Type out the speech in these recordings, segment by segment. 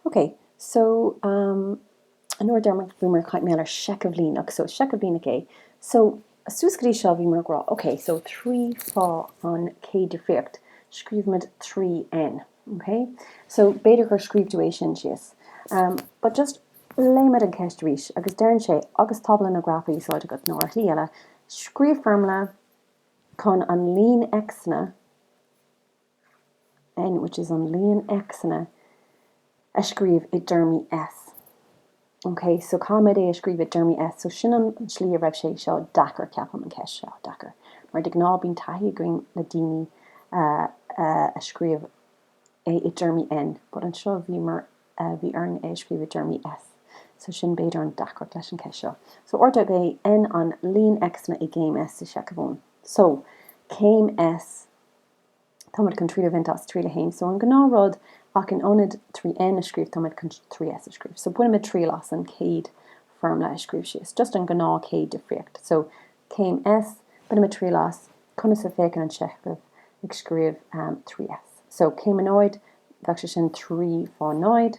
Ok so um nuair a deirimid bhíomar ag caint maidir le seicheamh líneach so seicheamh líneach é so suas go dtí seo bhíomar ag rá ok so trí fá an chéad difríocht scríobhaimid trí n ok so b'fhéidir gur scríobh tú é sin síos um but just léimid an ceist arís agus deireann sé agus tábla nó graf á úsáid agat nó ar shlí eile scríobh foirmle chun an líon X-anna N, which is an líon X-anna a scríobh i dtéarmaí S. Ok, so caithfimid é a scríobh i dtéarmaí S? So sin an tslí a raibh sé seo deacair, ceapaim, an cheist seo deacair. Mar de ghnáth bíonn taithí againn le daoine a scríobh é i dtéarmaí N, but anseo bhíomar, bhí orainn é a scríobh i dtéarmaí S. So sin b'fhéidir an deacair leis an cheist seo. So áit arb é N an líon X-anna i gcéim S, sa seicheamh. So, céim S, Táimid chun triail a bhaint as, triail a haon so an gnáth rud, ach in ionad trí N a scríobh táimid chun trí S a scríobh. So bainimid triail as an chéad foirmle a scríobh síos, just an gnáth chéad difríocht. So céim S, bainimid triail as conas a féachann an seicheamh ag scríobh trí S. So céim a náid, bheadh sé sin trí fá náid.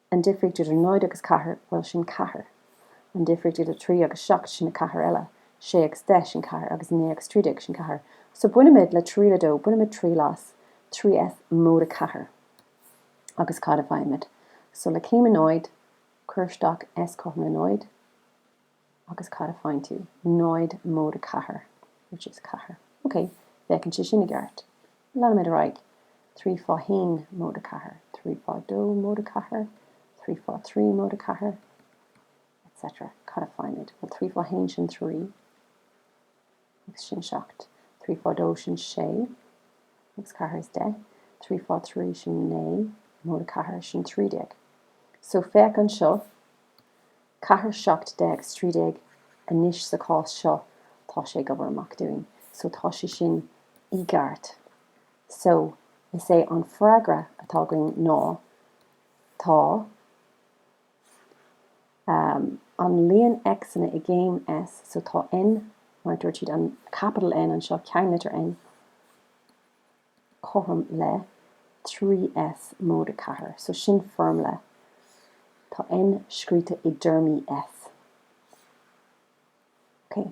An difríocht idir náid agus ceathair, bhuel, sin ceathair. An difríocht idir trí agus seacht, sin a ceathair eile. Sé agus deich, sin ceathair. Agus naoi agus trí déag, sin ceathair. So bainimid le triail a dó, bainimid triail as, 3S móide ceathair. Agus cad a faighimid? So le céim a náid, cuir isteach S cothrom le náid. Agus cad a faigheann tú? 0 móide ceathair, which is ceathair. Ok, féachann sé sin i gceart. Leanaimid ar aghaidh. Trí fá haon móide ceathair. Trí fá dó móide ceathair. Trí fá trí móide ceathair. Etc. Cad a faighimid? Bhuel, trí fá haon, sin trí. Agus sin seacht. Trí fá dó, sin sé. Agus ceathair is deich. Trí fá trí, sin naoi. Móide ceathair, sin trí déag. So, féach anseo. Ceathair seacht deich is trí déag anois sa chás seo, tá sé ag obair amach dúinn. So tá sé sin i gceart. So is é an freagra atá againn ná tá ehm an líon X-anna i gcéim S, so tá N, mar a dúirt siad, an capital N anseo, ceannlitir N, cothrom le 3S móide 4. So sin foirmle. Tá N scríte i dtéarmaí S. Okay.